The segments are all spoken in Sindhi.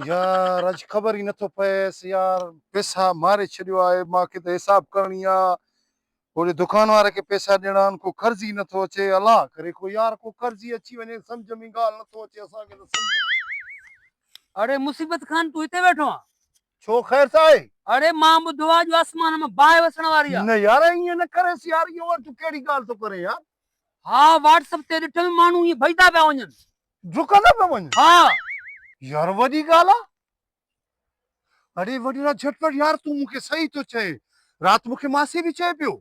يار اڄ خبر ئي نٿو پئيس يار پئسا ماري ڇڏيو آهي مان کي ته حساب ڪرڻي آ هوڏي دڪان واري کي پئسا ڏيڻا آهن ڪو قرض ئي نٿو اچي الله ڪري ڪو يار ڪو قرض ئي اچي وڃي سمجهه ۾ ڳالهه نٿو اچي اسان کي ته سمجهه ۾ اڙي مصيبت خان تون هتي ويٺو آن. ڇو خير ته آهي. اڙي مان ٻڌو آ جو آسمان مان باهه وسڻ واري آ. نه يار ائين نه ڪريس يار اهو تون ڪهڙي ڳالهه ٿو ڪرين يار. ها واٽس اپ تي ڏٺم ماڻهو ائين ڀڄدا پيا وڃن. ڊڪندو پيو وڃ. ها يار وڏي ڳالهه آ. اڙي وڏڙا جهٽپٽ يار تون مون کي صحيح ٿو چئين. رات مون کي ماسي به چئي پيو.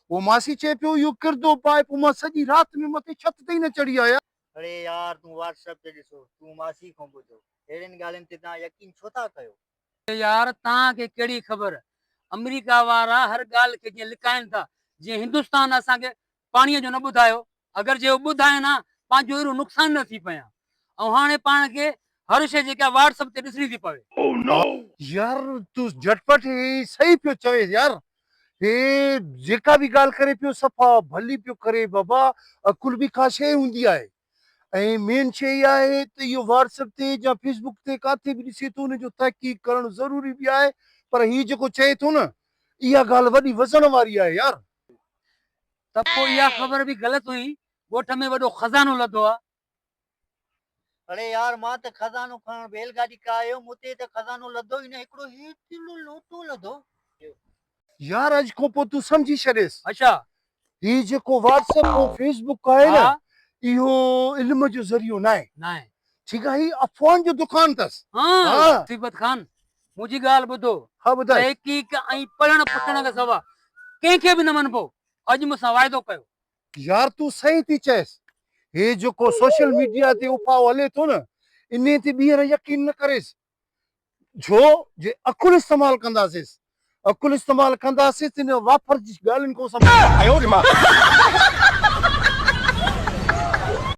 او ماسي چئي پيو اهو ڪردو پائي پوء مان سڄي رات ۾ مٿي ڇت تي ئي نه چڙهي آيا. اڙي يار تون واٽس ايپ تي ڏسو تون ماسي کان ٻڌو اهڙين ڳالهين تي توهان يقين ڇو ٿا ڪيو. اڙي يار توهان کي ڪهڙي خبر. آمريڪا وارا هر ڳالهه کي جيئن لڪائين ٿا جيئن هندستان اسان کي پاڻيء جو نه ٻڌايو، اگر جي اهو ٻڌاين ها، پنهنجو اهڙو نقصان نه ٿي پئي ها. ۽ هاڻي پاڻ کي هر شيء جيڪا آهي واٽس اپ تي ڏسڻي ٿي پوي. Oh no! يار تون جهٽ پٽ هي صحيح پيو چوين يار هي جيڪا به ڳالهه ڪري پيو صفا ڀلي پيو ڪري بابا عقل به ڪا شيء هوندي آهي ۽ مين شيء اها آهي ته اهو واٽس اپ تي يا فيس بڪ تي ڪاٿي به ڏسي ٿو ان جو تحقيق ڪرڻ ضروري به آهي پر هي جيڪو چئي ٿو نه اها ڳالهه وڏي وزڻ واري آهي يار. ته پوء اها خبر به غلط هئي، ڳوٺ ۾ وڏو خزانو لڌو آ. اڙي يار مان ته خزانو کڻڻ بيل گاڏي ڪاهيو، مون تي ته خزانو لڌو ئي نه، هڪڙو هي تيلو لوٽو لڌو. يار اڄ کان پوء تون سمجهي ڇڏيس. اڇا! هي جيڪو واٽس ايپ ۽ فيس بڪ آهي نه، اهو علم جو ذريعو ناهي. ناهي. ٺيڪ آ، هي افواهن جو دڪان اٿس. هان! صبغت خان، منهنجي ڳالهه ٻڌو، ها ٻڌاء. تحقيق ۽ پڙهڻ پڇڻ کان سوا ڪنهن کي به نه مڃبو، اڄ مون سان واعدو ڪيو. يار تون صحيح ٿي چئيس، هي جيڪو سوشل ميڊيا تي اڦاهو هلي ٿو نه انهي تي ٻيهر يقين نه ڪريس، ڇو جي عقل استعمال ڪنداسيس، عقل استعمال ڪنداسين ته انهن وافر جي ڳالهين کان اسان بچ سگهندا آهيون.